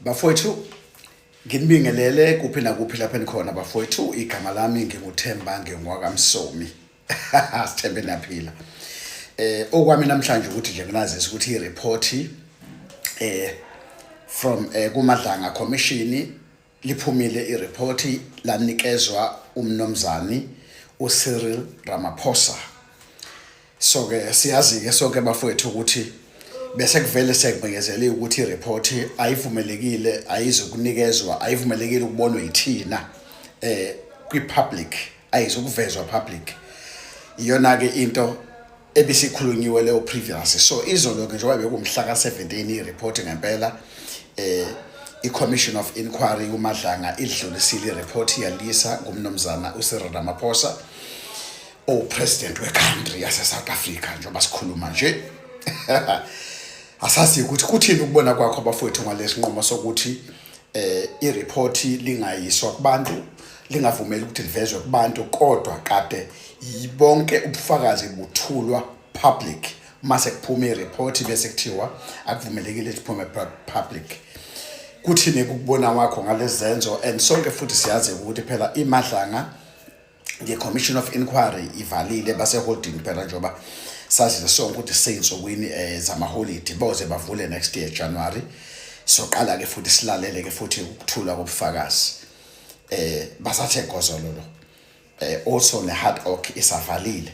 bafowethu nginibingelele kuphi nakuphi lapho enikhona bafowethu igama lami nginguthemba ngingowakamsomi sithembe naphila eh okwami namhlanje ukuthi nje nginazisa ukuthi ireport eh from eh kumadlanga commission Liphumile iriphothi lanikezwa uMnumzani uCyril Ramaphosa. So ke siyazi ke sonke bafowethu ukuthi bese kuvele sekubhekezele ukuthi ireport ayivumelekile ayizokunikezwa ayivumelekile ukubonwa yithina eh kwi public ayizokuvezwa public iyona ke into ebisikhulunyiwe leyo previous so izolo ke njengoba bekumhla ka-17 ireport ngempela eh i-commission of inquiry umadlanga idlulisile ireport yalisa ngumnumzana ucyril ramaphosa owupresident wecountry yasesouth africa njengoba sikhuluma nje asazi ukuthi kuthini ukubona kwakho abafowethu ngalesinqumo sokuthi eh ireport lingayiswa kubantu lingavumeli ukuthi livezwe kubantu kodwa kade yibonke ubufakazi buthulwa public mase kuphuma ireport bese kuthiwa akuvumelekile liphume public kuthini ukubona wakho ngalezenzo and sonke futhi siyazi ukuthi phela imadlanga nge-commission of inquiry ivalile baseholding phela njengoba sazile sonke ukuthi seyinsukwini um eh, zamaholidi boze bavule next year january soqala-ke futhi silalele-ke futhi ukuthula kobufakazi um eh, basathe gozololo um also ne-hard ock isavalile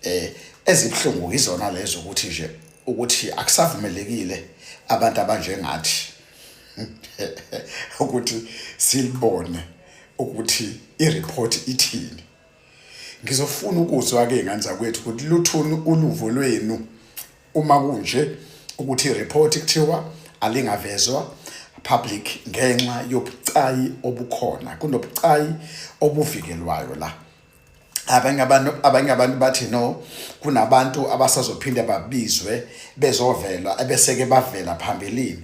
um ezibuhlungu yizona lezo ukuthi nje ukuthi akusavumelekile abantu abanjengathi ukuthi silibone ukuthi ireport ithini ngizofuna ukuzwa ke nganza kwethu ukuthi luthuni uluvo lwenu uma kunje ukuthi ireport kuthiwa alingavezwa public ngenxa yobucayi obukhona kunobucayi obuvikelwayo la abanye abantu abanye abantu bathi no kunabantu abasazophinde babizwe bezovela ebeseke bavela phambilini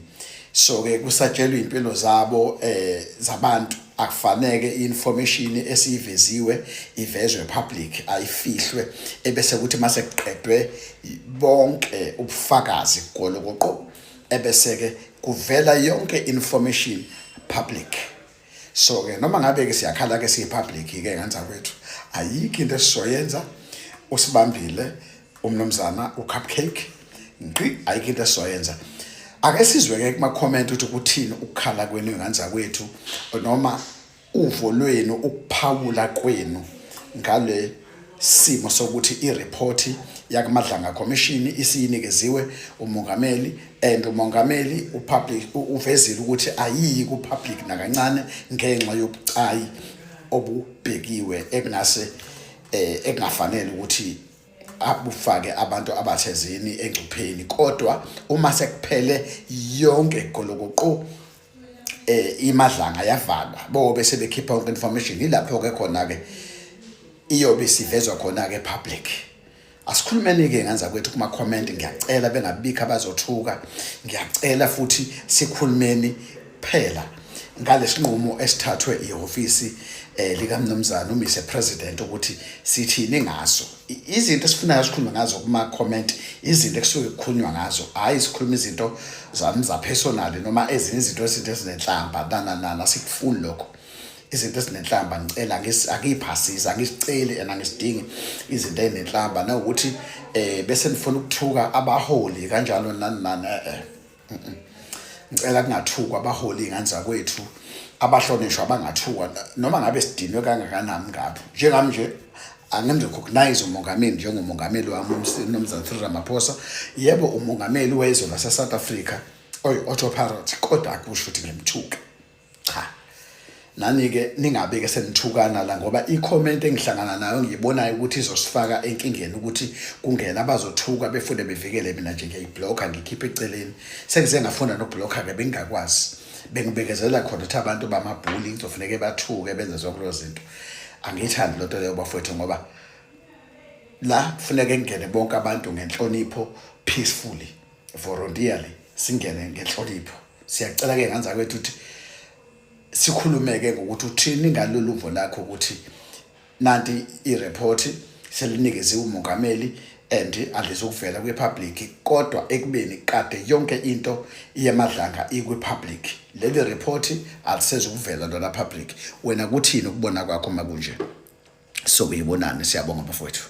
so ke kusatshelwa impilo zabo eh zabantu akufaneke information esiyiveziwe ivezwe public ayifihlwe ebese kuthi mase kuqedwe bonke ubufakazi golokoqo ebese ke kuvela yonke information public so ke noma ngabe ke siyakhala ke siyi public ke nganza kwethu ayikho into esizoyenza usibambile umnomzana u cupcake ngqi ayikho into esizoyenza ake sizwe ke kuma comment ukuthi kuthini ukukhala kwenu nganza kwethu noma uvo lwenu ukuphawula kwenu ngale simo sokuthi ireport yakumadlanga commission isiyinikeziwe umongameli and umongameli upublic uvezile ukuthi ayiyi ku public nakancane ngenxa yobucayi obubhekiwe ekunase eh ekungafanele ukuthi abufake abantu abathezini engcupheni kodwa uma sekuphele yonke golokoqo eh imadlanga yavala bo bese bekhipha yonke information ilapho ke khona ke iyobe sivezwa khona ke public asikhulumeni ke nganza kwethu kuma comment ngiyacela bengabikho abazothuka ngiyacela futhi sikhulumeni phela ngalesinqumo esithathwe ihofisi eh likamnumzana uMr President ukuthi sithini ngaso izinto esifunayo sikhulume ngazo kuma-comment izinto ekusuke kukhulunywa ngazo hhayi sikhuluma izinto zami zapersonali noma ezinye izinto ezinto ezinenhlamba nananana sikufuni lokho izinto ezinenhlamba ngicela angiyiphasisi angisiceli and angisidingi izinto ezinenhlamba nawukuthi um bese nifuna ukuthuka abaholi kanjalo nani nani e-e ngicela kungathukwa abaholi ingane zakwethu abahlonishwa bangathukwa noma ngabe sidinwe kangakanani ngapho njengami nje angimrecognize umongameli njengomongameli wami uMnumzane Cyril Ramaphosa yebo umongameli wezwe laseSouth Africa oyi-Otto Parrot kodwa akusho ukuthi ngimthuke cha nani-ke ningabe-ke senithukana la ngoba ikhomenti engihlangana nayo ngiyibonayo ukuthi izosifaka enkingeni ukuthi kungena abazothuka befune bevikele mina nje ngiyayiblokha ngikhiphe eceleni sengize ngafunda nokubhlokha-ke bengingakwazi bengibekezela khona ukuthi abantu bamabhuli ngizofuneke bathuke benze zonke lezo zinto angiyithandi loo nto leyo bafowethu ngoba la kufuneke kungene bonke abantu ngenhlonipho peacefully voluntarily singene ngenhlonipho siyacela ke nganza kwethu ukuthi sikhulumeke ngokuthi uthini ngalolu luvo lakho ukuthi nanti i-report selinikeziwe umongameli and andizokuvela kwi-public kodwa ekubeni kade yonke into iyemadlanga ikwi-public leli report alisezukuvela lona public wena kuthini ukubona kwakho makunje so uyibonani siyabonga bafowethu